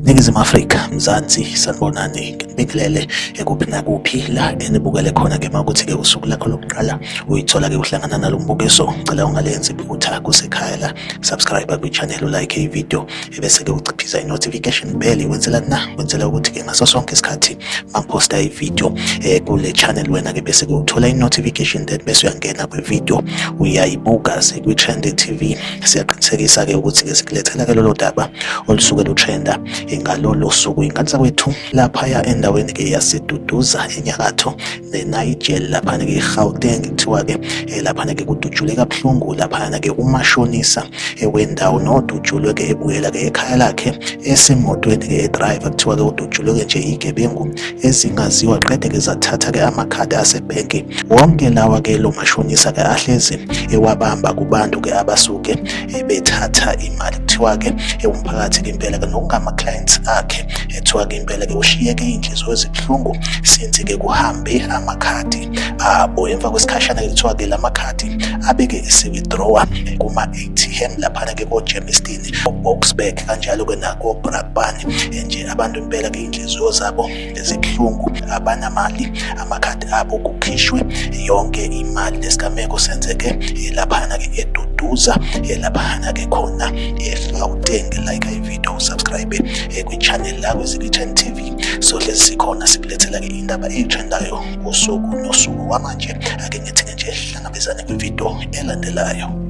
Ningizimu Afrika, Mzansi, sanibonani, nginibingelele ekuphi nakuphi la enibukele khona ke makuthi ke usuku lakho lokuqala uyithola ke uhlangana nalombukiso, ngicela ungalenzi iphutha kusekhaya la, subscribe kwi channel, like i video. ebese-ke uciphiza i-notification bell wenzela na wenzela ukuthi-ke ngaso sonke isikhathi maphosta ividiyo um eh, kule channel wena-ke bese-ke uthola i-notification then bese uyangena kwividiyo uyayibuka sekwi-trend tv siyaqinisekisa-ke ukuthi-ke sikulethela-ke lolo daba olusuke lutrenda ngalolo suku ingane zakwethu laphaya endaweni-ke yaseduduza enyakatho eNigel laphana-ke eGauteng kuthiwa-ke eh, laphana-ke kudutshule kabuhlungu laphana-ke umashonisa eh, wendawo nodutshulwe-ke ebuyela-ke ekhaya lakhe esemotweni-ke edriver kuthiwa-ke udutshulwe-ke nje iy'gebengu ezingaziwa qede-ke zathatha-ke amakhadi asebhenki wonke lawa-ke lo mashonisa-ke ahlezi ewabamba eh, kubantu-ke abasuke bethatha imali kuthiwa-ke umphakathi-ke impela-ke nokungama-clients akhe kuthiwa ke impela ke ushiyeke iy'nhliziyo ezibuhlungu since ke kuhambe amakhadi abo emva kwesikhashana ke kuthiwa ke la makhadi abeke ese-withdrawa kuma-atm laphana ke kogermiston oboxburg kanjalo ke nakobrakbani nje abantu impela ke iy'nhliziyo zabo ezibuhlungu abanamali amakhadi abo kukhishwe yonke imali lesigameko senzeke laphana ke eduduza laphana ke khona egauteng like iv video usubscribe eh, kwichannel la kwezikichen tv sohlezi sikhona sikulethela-ke indaba eyitrendayo ngosuku nosuku wamanje ake ngithini nje hlangabezane kwividiyo elandelayo